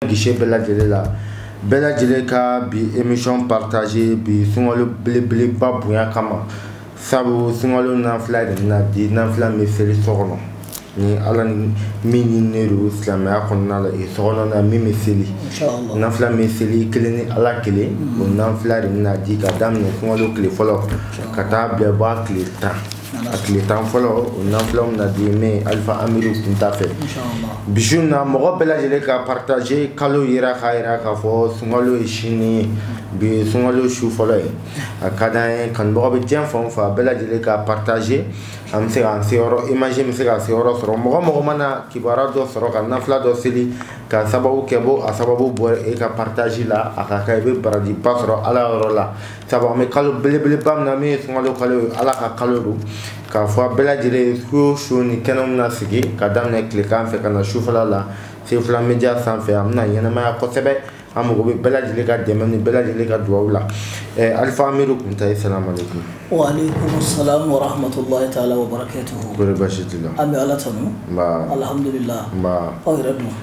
gise bɛɛ lajɛlen la bɛɛ lajɛlen ka bi emission partage bi sunkalo belebeleba bonya kama sabu sunkalo nafila de bɛna di nafila min bɛ seli so kɔnɔ ni ala ni min ɲininen don silamɛya kɔnɔna la so kɔnɔ na min bɛ seli nafila min seli kelen ni ala kelen o nafila de bɛna di ka daminɛ sunkalo tile fɔlɔ ka taa bila bɔ a tile tan a tile tan fɔlɔ o nafila bɛna di ne alifa amiru kunta fɛ bi su in na mɔgɔ bɛɛ lajɛlen ka partage kalo yera k'a yira k'a fɔ sunkalo ye sini ye bi ye sunkalo su fɔlɔ ye a ka d'an ye kanubagaw bɛ diɲɛ fan o fan bɛɛ lajɛlen ka partage an bɛ se k'an se yɔrɔ image bɛ se ka se yɔrɔ sɔrɔ mɔgɔ mɔgɔ mana kibaruya dɔ sɔrɔ ka nafila dɔ seli k'a sababu kɛ bɔ a sababu bɔ e ka partage la a ka kɛ i bɛ barajiba sɔrɔ ala yɔrɔ la sabu an bɛ kalo belebeleba min na min ye sunkalo kalo ye ala ka kalo don k'a fɔ a bɛɛ lajɛlen ye su o su nin kɛnɛ min na sigi ka daminɛ tilekan fɛ ka na sufɛla la sefila media sanfɛ a bɛna ɲɛnamaya kosɛbɛ an mago bɛ bɛɛ lajɛlen ka dɛmɛ ni bɛɛ lajɛlen ka dugawu la eh, alifa amiru kunta asalamu aleykum waaleykum salam wa rahmatulahi taala wa barakatuhu kori basi t'i la an bɛ ala tanu nba alhamdulilah nba aw yɛrɛ dun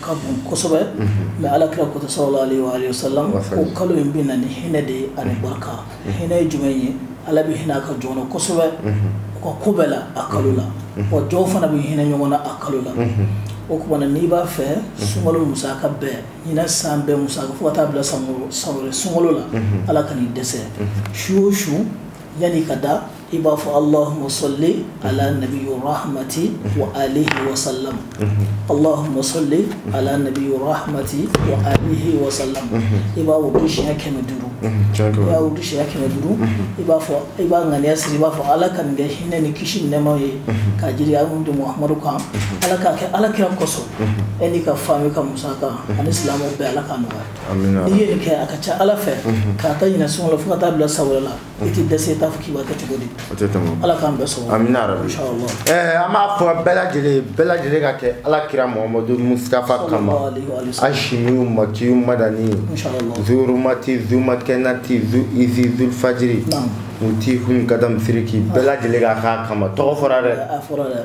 ka bon kosɛbɛ mɛ ala kira ko sallallahu alayhi wa sallam ko kalo in bɛ na ni hinɛ de ye ani barika hinɛ ye jumɛn ye ala bɛ hinɛ a ka jɔnw na kosɛbɛ u ka ko bɛɛ la a kalo la wa jɔnw fana bɛ hinɛ ɲɔgɔn na a kalo la o tuma na n'i b'a fɛ sunkalo musaka bɛɛ ɲinɛ san bɛɛ musaka fo ka taa bila san wɛrɛ sunkalo la ala kan'i dɛsɛ su o su yan'i ka da i b'a fɔ allahuma sali ala nabi rahmati wa alihi wa salam allahuma sali ala nabi rahmati wa alihi wa salam i b'a wurudi siɲɛ kɛmɛ duuru i b'a wurudi siɲɛ kɛmɛ duuru i b'a fɔ i b'a ŋaniya siri i b'a fɔ ala ka nin kɛ hinɛ ni kisi ni nɛɛma ye ka jigin an kun muhamadu kan ala k'a kɛ ala kira kosɔn e n'i ka famille ka musaka ani silamɛw bɛɛ ala ka nɔgɔya n'i ye nin kɛ a ka ca ala fɛ k'a ta ɲinɛ sunkalo la fo ka taa bila san wɛrɛ la i tɛ dɛsɛ i t'a fɔ k'i b'a kɛ cogo di o tɛ tɛmɛ ala k'an bɛɛ sɔn amina yarabi inshallah ɛɛ an b'a fɔ bɛɛ lajɛlen ye bɛɛ lajɛlen k'a kɛ ala kira muhamadu mustafa kama Sallallahu alaihi wa sallam. ashimiyu makiyu madani inshallah zurumati zumakɛnati zu izi zulfajiri Naam. mutihun gadam siriki bɛɛ lajɛlen k'a k'a kama tɔgɔ fɔra dɛ a fɔra dɛ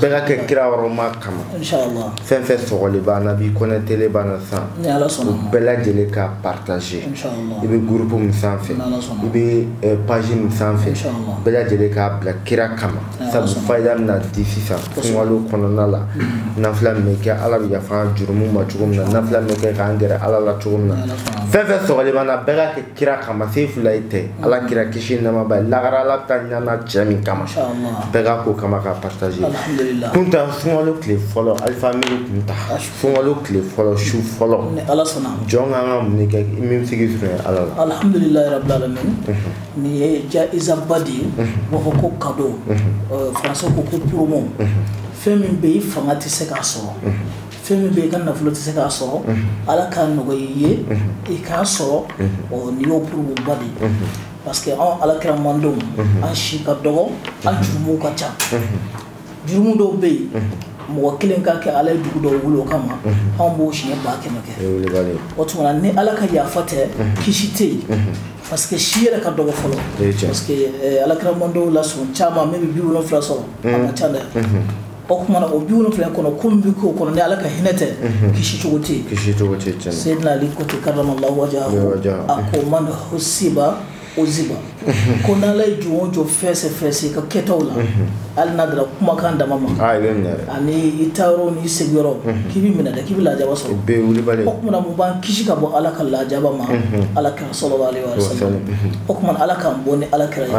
bɛɛ ka kɛ kira wɔrɔma kama fɛn o fɛn sɔgɔlen b'an na bi connecterlen b'an na san u bɛɛ lajɛlen ka partage i bɛ groupe min sanfɛ i bɛ eh, page min sanfɛ bɛɛ lajɛlen k'a bila kira kama sabu fayida bɛna di sisan sunkalo kɔnɔna la mm-hmm. nafila min bɛ kɛ ala bɛ yafa jurumu ma cogo min na nafila min bɛ kɛ k'an gɛrɛ ala la cogo min na fɛn o fɛn sɔgɔlen b'an na bɛɛ ka kɛ kira kama sefulahi tɛ ala kira kisi nɛma b'a ye lagara ala bɛ taa ɲana cɛ min kama bɛɛ ka ko kama ka partager kun ta sunkalo tile fɔlɔ alifa miiri kun ta sunkalo tile fɔlɔ su fɔlɔ jɔn ka ka mun kɛ min sigi sɔrɔ ala la alhamdulilayi rabbil alamin mhm. nin ye jaizaba de ye mhm. b'a fɔ ko kado mhm. français ko ko promo fɛn min bɛ i fanga tɛ se k'a sɔrɔ fɛn min bɛ i ka nafolo tɛ se k'a sɔrɔ ala k'a nɔgɔya i ye i k'a sɔrɔ ɔ nin y'o promoba de ye parce que anw ala kira mantɔnw an si ka dɔgɔ an jurumuw ka ca jurumu dɔw bɛ yen mɔgɔ kelen ka kɛ ala ye dugu dɔw wuli o kama anw b'o siɲɛ ba kɛmɛ kɛ o tuma na ni ala ka yafa tɛ kisi tɛ yen parce que si yɛrɛ ka dɔgɔ fɔlɔ parce que ala kira mantɔnw la sɔn caman min bɛ bi wolonfila sɔrɔ a man ca dɛ o kumana o bi wolonfila kɔnɔ ko min bɛ k'o kɔnɔ ni ala ka hinɛ tɛ kisi cogo tɛ yen kisi cogo tɛ yen seyidina ali ko ten karramallahu wajhahu a ko man husiba uziba ko n'ala ye jɔn o jɔn fɛsɛfɛsɛ ka kɛtaw la hali n'a dara kumakan dama ma ani i taayɔrɔ n'i sigiyɔrɔ k'i bɛ minɛ dɛ k'i bɛ lajaba sɔrɔ o kumana mun b'an kisi ka bɔ ala ka lajaba ma ala kira sallallahu alaihi wa sallam o kumana ala k'an bɔ ni ala kira ye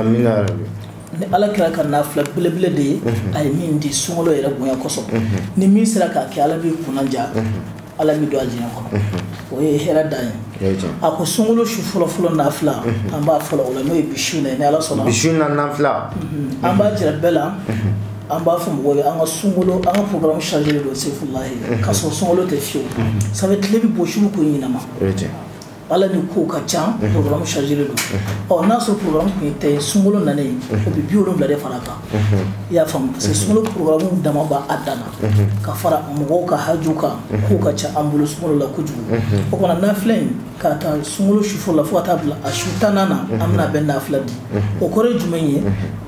ni ala kira ka nafila belebele de ye mhm. a ye min di sunkalo yɛrɛ bonya kosɔn mhm. ni min sera k'a kɛ ala b'i kunnadiya mhm. ala b'i don alijinɛ kɔnɔ o ye hɛrɛ dan ye a ko sunkalo su fɔlɔfɔlɔ nafila an b'a fɔlɔ o la n'o ye bi su na ye ni ala sɔnna bi su na nafila an b'a jira bɛɛ la an b'a fɔ mɔgɔw ye an ka sunkalo an ka programme chargé don sefulahi k'a sɔrɔ sunkalo tɛ fiyewu sanfɛ tile bɛ bɔ su ko ɲɛnama ala ni ko ka ca programme chargé don ɔ n'a sɔrɔ programme tun ye tan ye sunkalo nana ye o bɛ bi wolonwula de fara kan i y'a faamu parce que sunkalo programme dama b'a dan na ka fara mɔgɔw ka haju kan ko ka ca an bolo sunkalo la kojugu o kumana nafila in k'a ta sunkalo su fɔlɔ la fo ka taa bila a su tannan na an bɛn'a bɛɛ nafila di o kɔrɔ ye jumɛn ye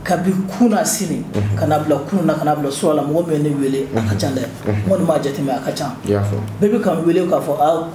kabi kunasini ka na bila kunun na ka na bila surɔ la mɔgɔ min ye ne wele a ka ca dɛ n kɔni m'a jateminɛ a ka ca bɛɛ bɛ ka n wele k'a fɔ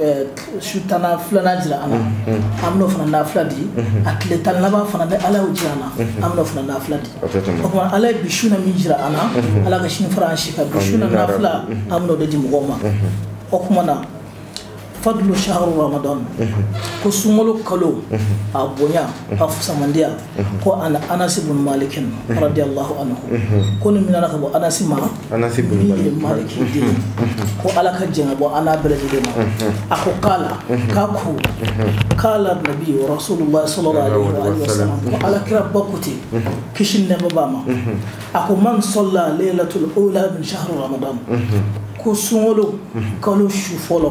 Eh, su tan filanan jira an na an bɛn'o fana nafila di a tile tan laban fana ni ala y'o jira an na an bɛn'o fana nafila di o kumana ala ye bi su na min jira an na ala ka sini fara an si kan bi su na nafila an bɛn'o de di mɔgɔw ma o kumana fadlu shahri ramadan ko sunkalo kalo a bonya a fusamandiya mhm. ko an anasi bun maliki mhm. radiyallahu anhu mhm. ko nin minɛna ka bɔ anasi ma anasi bun maliki den ko ala ka jɛn ka bɔ an n'a bɛɛ lajɛlen ma a ko kala k'a ko kala nabi rasulullah sallallahu alaihi wa sallam ko ala kiraba ko ten kisi nɛma b'a ma a ko man sɔlla laylatul ula min shahri ramadan ko sunkalo kalo su fɔlɔ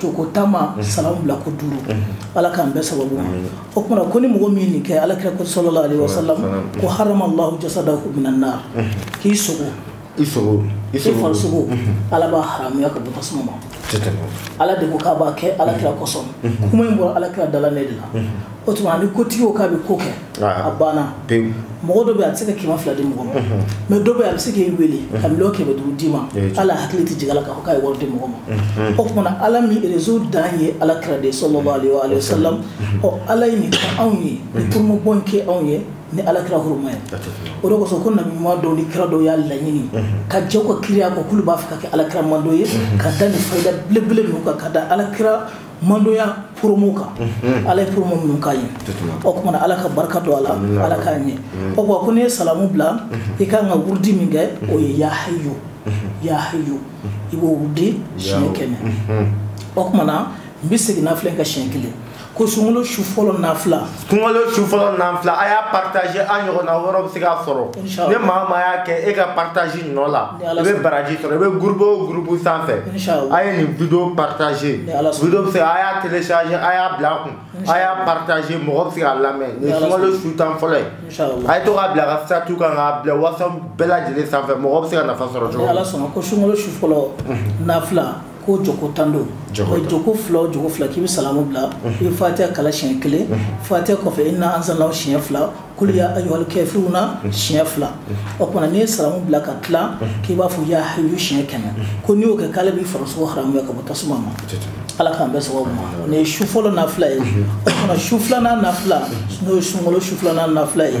jɔko tan ma mhm. salamu bila ko duuru mhm. ala k'an bɛɛ sababu ma o tuma na ko ni mɔgɔ min nin kɛ ala kira ko sallallahu alaihi wasallam ko harama allahu jasadahu minan nar mhm. k'i sogo i sogo i farisogo ala b'a haramuya ka bɔ tasuma ma ala de ko k'a b'a kɛ ala kira kosɔn kuma in bɔra ala kira dala ne de la o tuma ni kotigi ko k'a bɛ ko kɛ a banna pewu mɔgɔ dɔ bɛ a bɛ se ka kɛmɛ fila di mɔgɔ ma mais dɔ bɛ a bɛ se k'i wele ka miliyɔn kɛmɛ duuru d'i ma hali a hakili tɛ jigin a la k'a fɔ k'a ye wari di mɔgɔ ma o tuma na ala min rezo dan ye ala kira de sallallahu alaihi wasallam ɔ ala ye nin kɛ anw ye ni turumabɔ in kɛ anw ye ni ala kira huruma ye o de kosɔn ko nabi ɲuman dɔw ni kira dɔw y'a laɲini ka jɛn u ka kiraya kɔ k'olu b'a fɛ ka kɛ ala kira mantɔn ye ka da nin fayida belebele ninnu kan ka da ala kira mantɔnya promo kan ala ye promo minnu k'a ye o tuma na ala ka barika don a la ala k'a ɲɛ o ko ko n'i ye salamu bila i ka kan ka wurudi min kɛ o ye ya hayyu ya hayyu i b'o wurudi siɲɛ kɛmɛ o tuma na n bɛ segin nafila in kan siɲɛ kelen ko sunkalo su fɔlɔ nafila sunkalo su fɔlɔ nafila a y'a partager an ɲɔgɔnna wɛrɛw bɛ se k'a sɔrɔ ni maa o maa y'a kɛ e ka partage nɔ la i bɛ baraji sɔrɔ i bɛ groupe o groupe sanfɛ a ye nin video partager video bɛ se a y'a télécharger a y'a bila a kun a y'a partager mɔgɔ bɛ se k'a lamɛn nin sunkalo su tan fɔlɔ ye a ye to k'a bila a ka statut kan k'a bila whatsapp bɛɛ lajɛlen sanfɛ mɔgɔ bɛ se ka nafa sɔrɔ cogo min na. ko jɔko tan don jɔko fila o jɔko fila k'i bɛ salamu bila i bɛ fatiha kalan siɲɛ kelen fatiha kɔfɛ inna anzalnahu siɲɛ fila kul ya ayyuhal kafiruna siɲɛ fila o tuma n'i ye salamu bila ka tila k'i b'a fɔ ya hayyu siɲɛ kɛmɛ ko n'i y'o kɛ k'ala b'i farisogo haramuya ka bɔ tasuma ma ala k'an bɛɛ sababu ma o nin ye su fɔlɔ nafila ye o tuma su filanan nafila n'o ye sunkalo su filanan nafila ye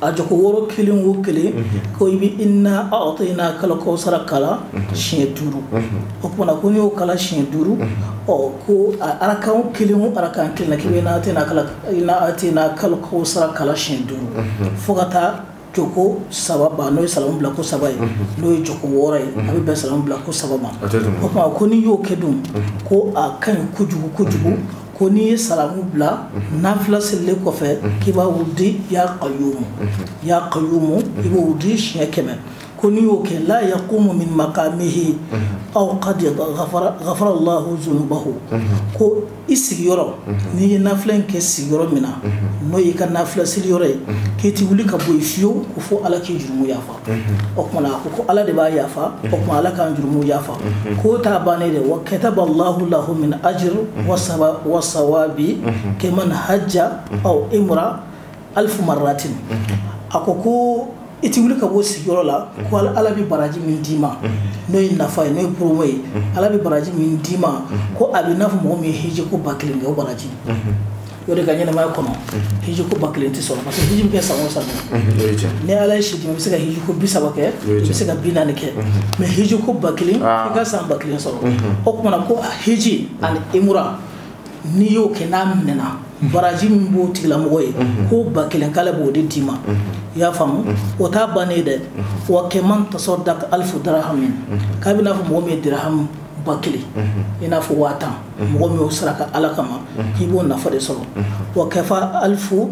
a jɔko wɔɔrɔ kelen o kelen ko i bɛ inna a'tayna kal kawsara kalan siɲɛ duuru o tuma na ko n'i y'o kalan siɲɛ duuru ɔ ko arakan kelen o arakan kelen k'i bɛ inna a'tayna kalan inna a'tayna kal kawsara kalan siɲɛ duuru fo ka taa jɔko saba ban n'o ye salamu bila ko saba ye n'o ye jɔko wɔɔrɔ ye a bɛ bɛn salamu bila ko saba ma o tuma ko n'i y'o kɛ dun ko a ka ɲi kojugu kojugu ko n'i ye salamu bila mhm. nafila selilen kɔfɛ mhm. k'i b'a wurudi ya qayyumu mhm. ya qayyumu i b'o wurudi siɲɛ kɛmɛ ko n'i y'o kɛ la yaqumu min maqamihi aw qad ghafara allahu zunubahu ko i sigiyɔrɔ n'i ye nafila in kɛ sigiyɔrɔ min na n'o y'i ka nafila seliyɔrɔ ye k'i ti wuli ka bɔ yen fiyewu ko fo ala k'i jurumu yafa o tumana a ko ko ala de b'a yafa o tuma ala k'an jurumuw yafa k'o t'a bannen dɛ wa kataba allahu lahu min ajir wa sawabi keman hajja aw imra alfu marratin a ko ko i ti wuli ka bɔ sigiyɔrɔ la ko ala bɛ baraji min d'i ma n'o ye nafa ye n'o ye promo ye ala bɛ baraji min d'i ma ko a bɛ n'a fɔ mɔgɔ min ye hiji ko ba kelen kɛ o baraji o de ka ɲɛnamaya kɔnɔ hiji ko ba kelen tɛ sɔrɔ parce que hiji bɛ kɛ san o san ni ala ye si di i bɛ se ka hiji ko bi saba kɛ i bɛ se ka bi naani kɛ mɛ hiji ko ba kelen i ka san ba kelen sɔrɔ o tumana ko hiji ani imura n'i y'o kɛ n'a minɛna baraji min b'o tigilamɔgɔ ye ko ba kelen k'ala b'o de d'i ma i y'a faamu o t'a bannen ye dɛ wa keman tasaddaqa alifu darahamu k'a bɛ n'a fɔ mɔgɔ min ye darahamu ba kelen i n'a fɔ waa tan mɔgɔ min y'o saraka ala kama k'i b'o nafa de sɔrɔ wakafa alifu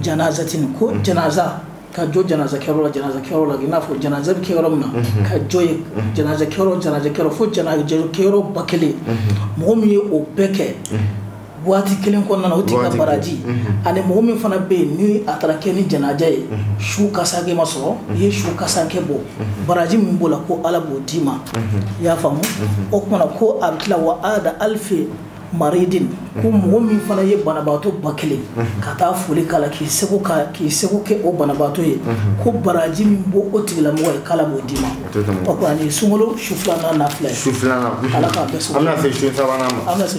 janazatini ko janaza ka jɔ janaza kɛyɔrɔ la janaza kɛyɔrɔ la i n'a fɔ janaza bɛ kɛ yɔrɔ min na ka jɔ yen janaza kɛyɔrɔ janaza kɛyɔrɔ fo janaza kɛyɔrɔ ba kelen mɔgɔ min ye o bɛɛ kɛ waati kelen kɔnɔna na o tigi ka baraji mhm. ani mɔgɔ min fana bɛ yen ni a taara kɛ ni janaja ye mhm. su kasankɛ ma sɔrɔ mhm. i ye su kasankɛ bɔ baraji min b'o la ko ala b'o d'i ma i y'a faamu o tumana ko a bɛ tila wa ada alifi maridin ko mɔgɔ min fana ye banabaatɔ ba kelen ka taa foli k'a la k'i seko ka k'i seko kɛ o banabaatɔ ye ko baraji min b'o o tigilamɔgɔ ye k'ala b'o d'i ma o kɔni sunkalo su filanan na filɛ su filanan ala k'a bɛɛ sɔrɔ an bɛna se su sabanan ma an bɛna se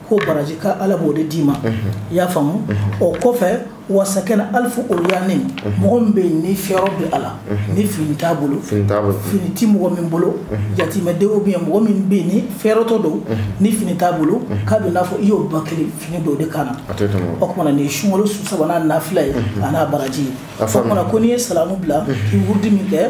ko baraji ka ala b'o de d'i ma i y'a faamu o kɔfɛ wa sakana alifu uryanin mɔgɔ min bɛ yen ni fɛɛrɛ bɛ a la ni fini t'a bolo fini tɛ mɔgɔ min bolo jatimɛdenw bɛ yen mɔgɔ min bɛ yen ni fɛɛrɛtɔ don ni fini t'a bolo k'a bɛ n'a fɔ i y'o ba kelen fini don u de kan na o tumana nin ye sunkalo su sabanan nafila ye a n'a baraji ye o tumana ko n'i ye salamu bila k'i wurudi min kɛ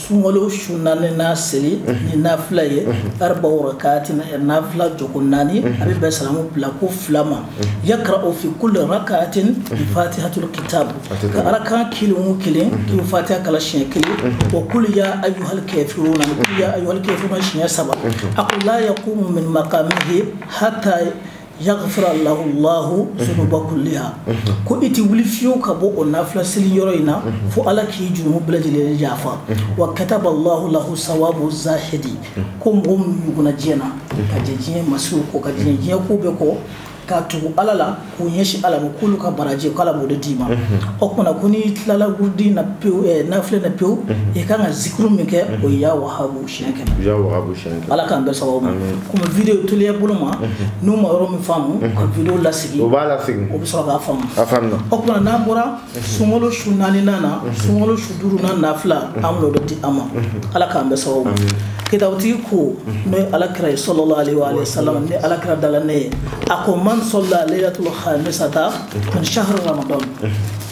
sunkalo su naaninan seli ni nafila ye arba rakaatin nafila jɔko naani a bɛ bɛn salamu bila ko fila ma yakarau fi kulli rakaatin bi fatihatul kitab ko rakaa kelen o kelen k'i bɛ fatiha kalan siɲɛ kelen wa kulu ya ayyuhal kafiruna kulu ya ayyuhal kafiruna siɲɛ saba a ko la yakumu min maqamihi hatta yagifira lahu lahu zunuba kuliha ko i tɛ wuli fiyewu ka bɔ o nafila seli yɔrɔ in na fo ala k'i jurumu bɛɛ lajɛlen yafa wa kataba lahu lahu sawabu zahidi ko mɔgɔ minnu ɲugunna diɲɛ na ka jɛ diɲɛ masiriw kɔ ka jɛ diɲɛ ko bɛɛ kɔ ka tugu ala la k'u ɲɛsin ala ma k'olu ka baraji ko ala b'o de d'i ma o kumana ko n'i tilala wurudi na pewu nafila na pewu i kan ka zikuru min kɛ o ye ya wahabu siɲɛ kɛmɛ ya wahabu siɲɛ kɛmɛ ala k'an bɛn sababu ma komi video teliya bolo ma n'u ma yɔrɔ min faamu ka video lasegin o b'a lasegin o bɛ sɔrɔ k'a faamu a faamuna o tuma n'an bɔra sunkalo su naaninan na sunkalo su duurunan nafila an b'o de di aw ma ala k'an bɛn sababu ma kitabutigi ko n'o ye ala kira ye salalahu aleyihi wa salam ni ala kira dala ne ye a ko man sɔla leyilatul hamisata min shahari ramadan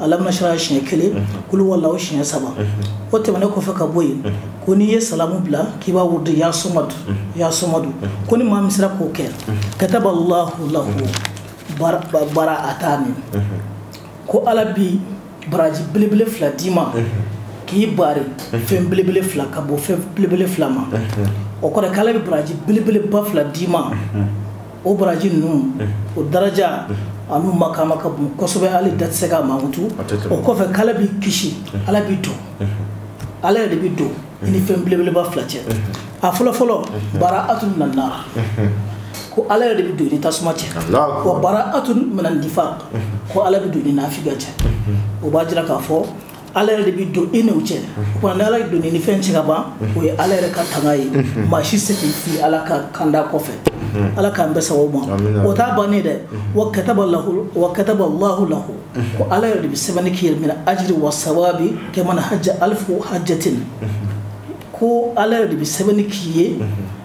alam nashrah siɲɛ kelen kulu huwa allahu siɲɛ saba o tɛmɛnen kɔfɛ ka bɔ yen ko n'i ye salamu bila k'i b'a wurudi ya samadu ko ni maa min sera k'o kɛ kataba allahu lahu baraatani ko ala bi baraji belebele fila d'i ma k'i bari fɛn belebele fila ka bɔ fɛn belebele fila ma o kɔrɔ k'ala bɛ baraji belebeleba fila d'i ma o baraji ninnu o daraja an'u makama ka bon kosɛbɛ hali da tɛ se k'a mankutu o kɔfɛ k'ala b'i kisi ala b'i don ala yɛrɛ de bɛ don i ni fɛn belebeleba fila cɛ a fɔlɔfɔlɔ baraatun minan nari ko ala yɛrɛ de bɛ don i ni tasuma cɛ wa baraatun minan nifaki ko ala bɛ don i ni nafiga cɛ o b'a jira k'a fɔ ala yɛrɛ de bɛ don e n'o cɛ kuma ni ala donna i ni fɛn cɛ ka ban o ye ala yɛrɛ ka tanga ye maa si tɛ se k'i fili ala ka kanda kɔfɛ ala k'an bɛn sababu ma o t'a bannen dɛ wa kataba lahu wa kataba allahu lahu ko ala yɛrɛ de bɛ sɛbɛnni k'i ye minal ajiri wa sawabi kaman hajja alifu hajjatin ko ala yɛrɛ de bɛ sɛbɛnni k'i ye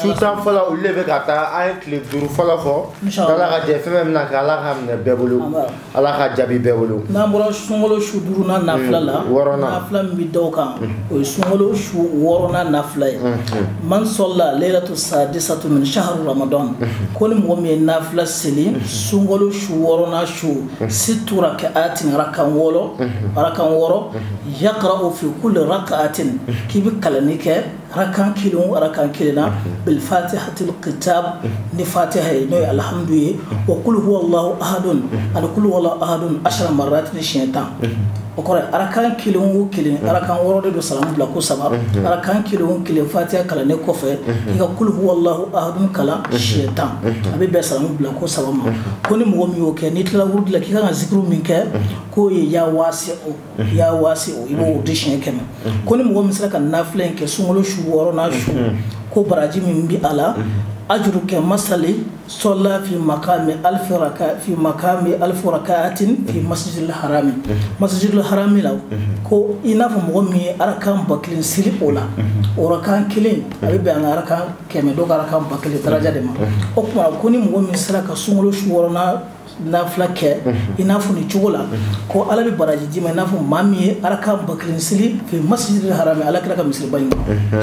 su tan fɔlɔ olu de bɛ ka taa an ye tile duuru fɔlɔ fɔ ala ka jɛ fɛn fɛn bɛna kɛ ala k'a minɛ bɛɛ bolo ala k'a jaabi bɛɛ bolo n'an bɔra sunkalo su duurunan nafila la mm, wɔɔrɔnan nafila min bɛ da o kan mm. o ye sunkalo su wɔɔrɔnan nafila ye mm, man sɔla leyilatu sadisatu min shahari ramadan ko ni mɔgɔ min ye nafila seli sunkalo su wɔɔrɔnan su situ rakaatin arakan wɔɔrɔ arakan wɔɔrɔ yakarau fi kuli rakaatin k'i bɛ kalanni kɛ arakan kelen o arakan kelen na bil fatihatil kitab ni fatiha ye n'o ye alhamdu ye wa kulu huwa allahu ahadun ani kulu huwa allahu ahadun ashara marat ni siɲɛ tan o kɔrɔ ye arakan kelen o kelen arakan wɔɔrɔ de don salamu bila ko saba arakan kelen o kelen fatiha kalannen kɔfɛ i ka kulu huwa allahu ahadun kalan siɲɛ tan a bɛ bɛn salamu bila ko saba ma ko ni mɔgɔ min y'o kɛ n'i tilala wurudi la k'i kan ka zikiri min kɛ k'o ye ya waasiu ya waasiu i b'o di siɲɛ kɛmɛ ko ni mɔgɔ min sera ka nafila in kɛ sunkalo su wɔɔrɔnan su ko baraji min bi a la ajuru kamasali sɔla fi makami alifu raka fi makami alifu rakaatin fi masjidil harami masjidil harami la ko i n'a fɔ mɔgɔ min ye arakan ba kelen seli o la o arakan kelen a bɛ bɛn an ka arakan kɛmɛ dɔ ka arakan ba kelen daraja de ma o tuma ko ni mɔgɔ min sera ka sunkalo su wɔɔrɔnan nafila kɛ i n'a fɔ nin cogo la ko ala bɛ baraji d'i ma i n'a fɔ maa min ye arakan ba kelen seli fi masjidil harami ala kira ka misiriba in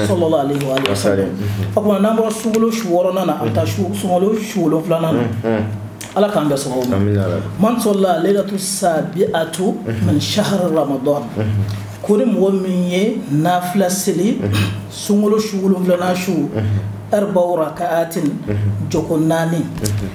sallallahu alaihi wa sallam o tuma n'an bɔra sunkalo su wɔɔrɔnan na an bɛ taa sunkalo su wolonfilanan na ala k'an bɛɛ sababu ma man sɔlla leilatu sabi'atu min shahar ramadan ko ni mɔgɔ min ye nafila seli sunkalo su wolonfilanan su arba raka'atin jɔko naani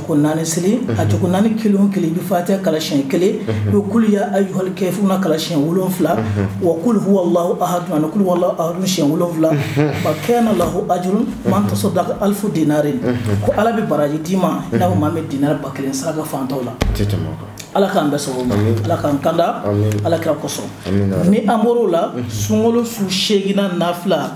ko naani seli a jɔko naani kelen o kelen i bɛ fatiha kalan siɲɛ kelen i bɛ kul ya ayyuhal kafiruna kalan siɲɛ wolon wolonwula wa kul huwallahu ahad wa kul huwallahu ahad siɲɛ wolon wolonwula fa kana lahu ajru man tasaddaka alifu dinarin ko ala bɛ baraji d'i ma i n'a fɔ maa min dinar ba kelen saraka fantanw la ala k'an bɛɛ sababu ma ala k'an kanda ala kira kosɔn ni an bɔr'o la sunkalo su seeginnan na fila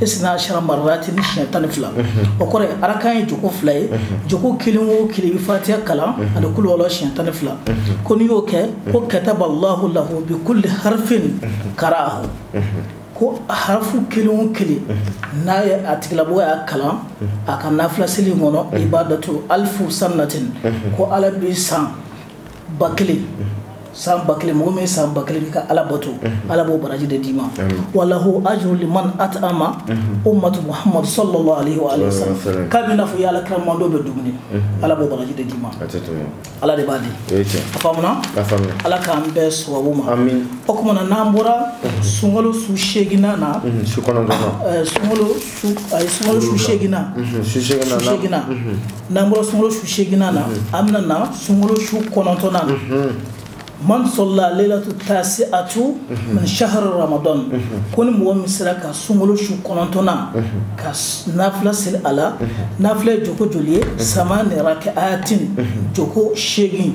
isna ashara marratin siɲɛ tan ni fila o kɔrɔ arakan ye joko fila ye joko kelen o kelen i bɛ fatiha kalan ani kul huwallahu siɲɛ tan ni fila ko n'i y'o kɛ ko kataballahu lahu bi kulli harfin kara'ahu ko harafu kelen o kelen n'a ye a tigilamɔgɔ y'a kalan a ka nafila seli in kɔnɔ ibadatu alifu sanatin ko ala bɛ san ba kelen san ba kelen mɔgɔ min san ba kelen kɛ ka ala bato mhm. ala b'o baraji de d'i ma wa lahu ajru liman at'ama mhm. ummatu muhammad sallallahu alaihi wa alihi wasallam k'a bɛ n'a fɔ i ala kira mantɔn bɛɛ dumuni mhm. ala b'o baraji de d'i ma ala de b'a di a faamuna ala k'an bɛɛ sababu ma o kuma na n'an bɔra sunkalo su seeginnan na su kɔnɔntɔnnan eh, sunkalo ayi sunkalo su seeginna mhm, su seeginna mhm. n'an bɔra sunkalo su seeginnan na mhm. an bɛna na sunkalo su kɔnɔntɔnnan na man sɔlla leilatu tasi'atu min shahar ramadan ko ni mɔgɔ min sera ka sunkalo su kɔnɔntɔnnan ka nafila seli a la nafila ye joko joli ye samani raka'atin joko seegin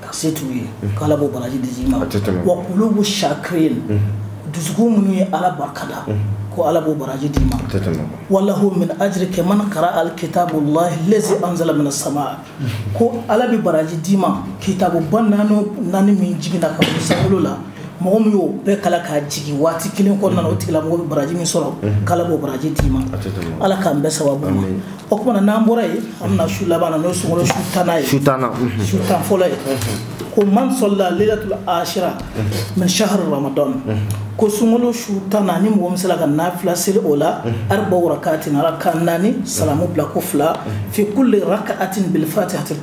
ka se t'u ye ko ala b'o baraji d'i ma wa kulubu shakirin dusukun minnu ye ala barika da ko ala b'o baraji d'i ma wa lahu min ajri kaman kara'a al kitabu lahi lazi anzala min sama ko ala bɛ baraji d'i ma kitabu ba naani min jiginna ka bɔ sankolo la mɔgɔ min y'o bɛɛ kalan k'a jigin waati kelen kɔnɔna na o tigilamɔgɔ bɛ baraji min sɔrɔ mhm. k'ala b'o baraji d'i ma ala k'an bɛɛ sababu ma o kuma na n'an bɔra yen an bɛna su laban na n'o ye sunkalo su tannan ye su tan mhm. fɔlɔ ye mhm. ko man sɔlla leilatul ashira min shahar ramadan ko sunkalo su tannan ni mɔgɔ min sera ka nafila seli o la arba'u raka'atin arakan naani salamu bila ko fila fi kulli raka'atin bil fatihatil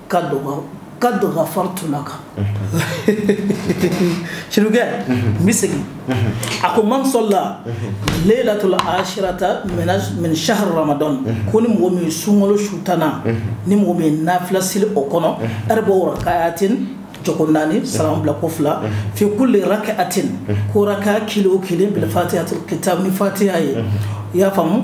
kad ghafartu laka sirikɛ n bɛ segin a ko man salla laylatul ashirata min shahr ramadan ko ni mɔgɔ min sunkalo su tannan ni mɔgɔ min nafila seli o kɔnɔ arba'u raka'atin jɔko naani salam bila ko fila fi kulli raka'atin ko raka kelen o kelen bil fatihatul kitab ni fatiha ye i y'a faamu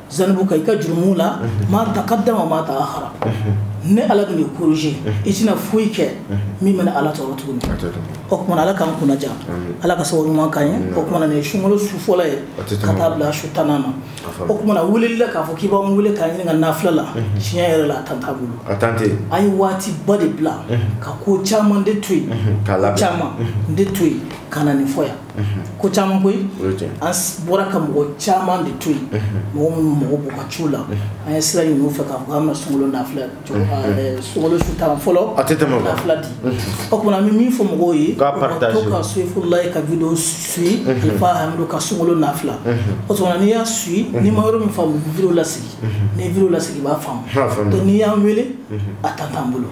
zanubuka i ka jurumu la ma taqaddama ma ta'akhara ne ala bɛ kɔrɔsi i tɛna foyi kɛ min bɛ ala tɔɔrɔ tuguni o kumana ala k'an kunnaja ala ka sababu ɲuman k'an ye o kumana nin ye sunkalo su fɔlɔ ye ka taa bila su tan na o kumana weleli la k'a fɔ k'i b'an wele k'an ɲininka nafila la tiɲɛ yɛrɛ la a tan t'an bolo an ye waati ba de bila ka ko caman de to yen ka caman de to yen ka na nin fɔ yan ko caman koyi an bɔra ka mɔgɔ caman de to yen mɔgɔ minnu mago b'u ka ciw la an ye sira ɲini u fɛ k'a fɔ k'an bɛna sunkalo nafila sunkalo su tan fɔlɔ a tɛ tɛmɛ nafila di o kumana an bɛ min fɔ mɔgɔw ye u ka to ka soyifulayi ka video suivi alifa hamidu ka sunkalo nafila o kumana n'i y'a suivi n'i ma yɔrɔ min faamu video lasegin n'i video lasegin i b'a faamu donc n'i y'an wele a tan t'an bolo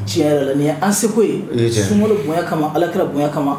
tiɲɛ yɛrɛ la nin ye an seko ye sunkalo bonya kama ala kira bonya kama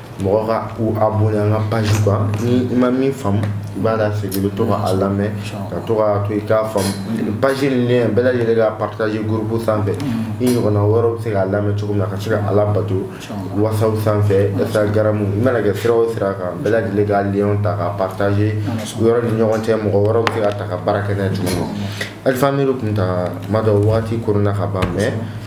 mɔgɔ ka u abonné an ka page kan ni i ma min faamu i b'a lasegin i bɛ to ka a lamɛn ka to ka to i k'a faamu page nin lien bɛɛ lajɛlen ka partage groupe sanfɛ i ɲɔgɔnna wɛrɛw bɛ se k'a lamɛn cogo min na ka se ka ala bato whatsapp sanfɛ instagram i mana kɛ sira o sira kan bɛɛ lajɛlen ka lien ta ka partage yɔrɔ ni ɲɔgɔn cɛ mɔgɔ wɛrɛw bɛ se k'a ta ka baara kɛ n'a ye cogo min na alifa hamidu kunta tuma dɔ waati koronna ka ban mɛ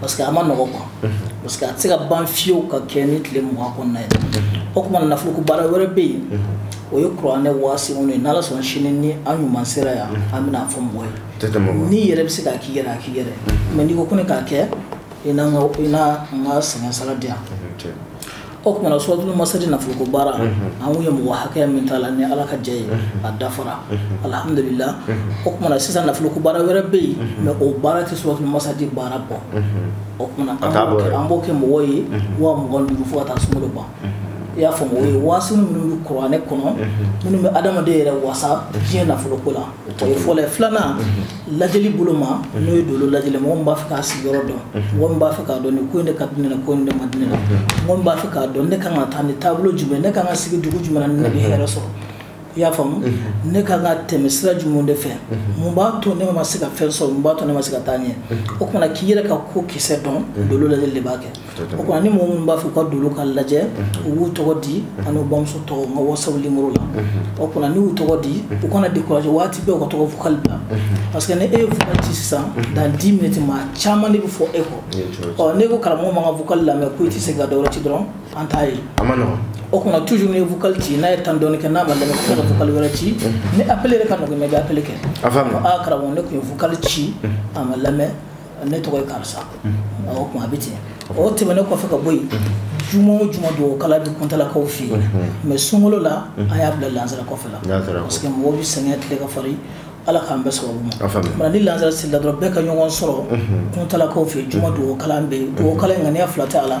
parce que a ma nɔgɔ quoi parce que a tɛ se ka ban fiyew ka kɛ ni tile mugan kɔnɔna ye o kumana nafoloko baara wɛrɛ bɛ yen o ye kuranɛ waasiw ye n'ala sɔnna sini ni an ɲuman sera yan an bɛna a fɔ mɔgɔ ye n'i yɛrɛ bɛ se k'a k'i yɛrɛ a k'i yɛrɛ mais n'i ko ko ne k'a kɛ i na n ka sɛgɛn sara di yan o kumana suratulu masadi nafoloko baara an kun ye mɔgɔ hakɛya min t'a la ni ala ka jɛ ye a dafara alhamdulillah o kumana sisan nafoloko baara wɛrɛ bɛ yen mais o baara tɛ suratulu masadi baara bɔ o kumana an b'o kɛ mɔgɔ ye waa mugan ni duuru fo ka taa sunkalo ban i y'a faamu o ye waasiw minnu bɛ kuranɛ kɔnɔ minnu bɛ adamaden yɛrɛ wasa diɲɛ nafoloko la o ye fɔlɔ ye filanan lajɛli bolo ma mhm. n'o ye dolo lajɛli mɔgɔ min b'a fɛ k'a sigiyɔrɔ dɔn mhm. mɔgɔ min b'a fɛ k'a dɔn ni ko in de ka di ne la ko in de man di ne la mhm. mɔgɔ min b'a fɛ k'a dɔn ne kan ka taa ni taabolo jumɛn ne kan ka sigi dugu jumɛn na ni ne bɛ hɛrɛ sɔrɔ i y'a faamu ne kan ka tɛmɛ sira jumɛn de fɛ mun b'a to ne ma se ka fɛn sɔrɔ mun b'a to ne ma se ka taa ɲɛ o kumana k'i yɛrɛ ka ko kisɛ dɔn dolo lajɛli de b'a kɛ o kuma na ni mɔgɔ minnu b'a fɛ ka dolo ka lajɛ u b'u tɔgɔ di ani bamuso tɔgɔ n ka WhatsApp numéro la o kuma na n'u y'u tɔgɔ di u kana décourager waati bɛɛ ka to ka vocal bila parce que ni e ye vocal ci sisan dans dix minutes maa caman de bɛ fɔ e kɔ ɔ n'e ko karamɔgɔ ma n ka vocal lamɛn ko i tɛ se ka dɔwɛrɛ ci dɔrɔn an t'a ye o kuma na toujours n'i ye vocal ci n'a ye temps dɔɔni kɛ n'a ma lamɛn ko ka vocal wɛrɛ ci ni appel yɛrɛ ka nɔgɔ i ma i bɛ appel kɛ a karamɔgɔ ne tun ye vocal ci a ma lamɛn ne tɔgɔ ye karisa o tuma a bɛ ten o tɛmɛnen kɔfɛ ka bɔ yen juma o juma dugawu kalan bɛ kuntalakaw fɛ yen mais sunkalo la an y'a bila lansara kɔfɛ la parce que mɔgɔw bɛ sɛgɛn tile ka farin ala k'an bɛɛ sababu ma ni lansara seli la dɔrɔn bɛɛ ka ɲɔgɔn sɔrɔ kuntalakaw fɛ yen juma dugawu kalan bɛ yen dugawu kalan in ŋaniya fila tɛ a la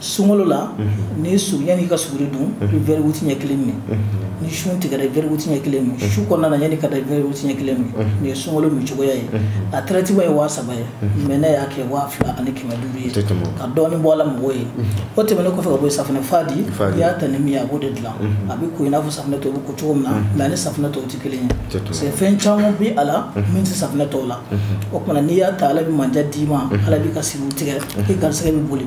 sunkalo la mhm. ni su yanni i ka suguri dun i bɛ verre huit ɲɛ kelen min mhm. ni sun tigɛra i bɛ verre huit ɲɛ kelen min su kɔnɔna na yanni ka da i bɛ verre huit ɲɛ kelen min nin ye sunkalo min cogoya ye a traitement ye waa saba ye mais ne y'a kɛ waa fila ani kɛmɛ duuru ye ka dɔɔni bɔ a la mɔgɔw ye o tɛmɛnen kɔfɛ ka bɔ yen safinɛ fa di n'i y'a ta ni min ye a b'o de dilan a bɛ ko i n'a fɔ safinɛ tɔw bɛ ko cogo min na mais a ni safinɛ tɔw tɛ kelen ye parce que fɛn caman bɛ a la min tɛ safinɛ tɔw la o tuma na n'i y'a ta ala bɛ mandiya d'i ma ala b'i ka siriw tigɛ i garisigɛ bɛ boli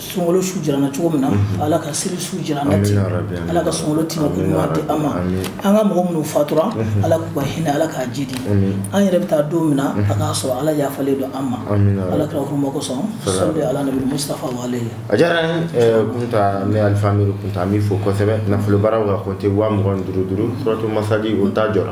sunkalo su jirana cogo min na mhm. ala ka seli su jirana ten ala ka sunkalo tima ko ɲuman di an ma an ka mɔgɔ minnu fatura mhm. ala k'u ka hinɛ ala k'a jidi an yɛrɛ bɛ taa don min na mhm. a k'a sɔrɔ ala yafalen don an ma ala kira hɔrɔma kosɔn sɔli ala nabi mustafa wale a diyara n eh, kunta ne alifa amiru kunta an b'i fo kosɛbɛ nafolobaaraw ka compte waa mugan ni duuru duuru suratu masadi o ta jɔra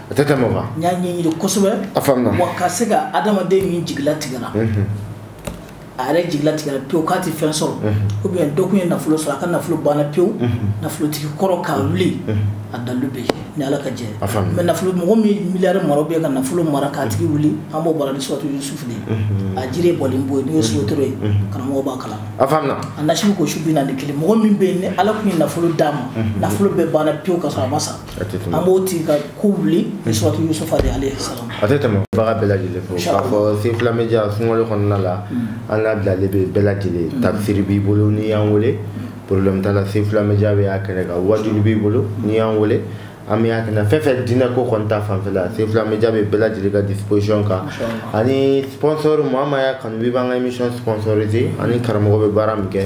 a tɛ tɛmɛ o kan n y'a ɲɛɲini kosɛbɛ a faamuna wa ka se ka adamaden min jigi latigɛra mhm. a yɛrɛ jigi latigɛra pewu k'a tɛ fɛn sɔrɔ mhm. ou bien dɔ kun ye nafolo sɔrɔ a ka nafolo banna pewu mhm. nafolotigi kɔrɔ k'a wuli a dalu bɛ yen ni ala ka jɛ mais nafolo mɔgɔ min miliyari mara bɛ ka nafolo mara k'a tigi wuli an b'o baara ni suratu yusufu de a jiri bɔlen bɛ yen n'o ye sotoro ye karamɔgɔ b'a kalan a faamuna a nasi bɛ ko su bi naani kelen mɔgɔ min bɛ yen ni ala kun ye nafolo d'a ma nafolo bɛɛ banna pewu ka sɔrɔ a ma sa a tɛ tɛmɛ an b'o tigi ka ko wuli ni suratu yusufu de alayhi salam a tɛ tɛmɛ baga bɛɛ lajɛlen fo k'a fɔ Sefula Media sunkalo kɔnɔna la an labilalen bɛ bɛɛ lajɛlen tafsiri b'i bolo n'i y'an wele problème t'a la Sefula Media bɛ y'a kɛnɛ kan waajuli b'i bolo n'i y'an wele an bɛ y'a kɛnɛ fɛn fɛn diinɛ ko kɔni ta fanfɛ la Sefula Media bɛ bɛɛ lajɛlen ka disposition kan ani sponsor maa maa y'a kanu b'i b'an ka émission sponsoriser ani karamɔgɔ bɛ baara min kɛ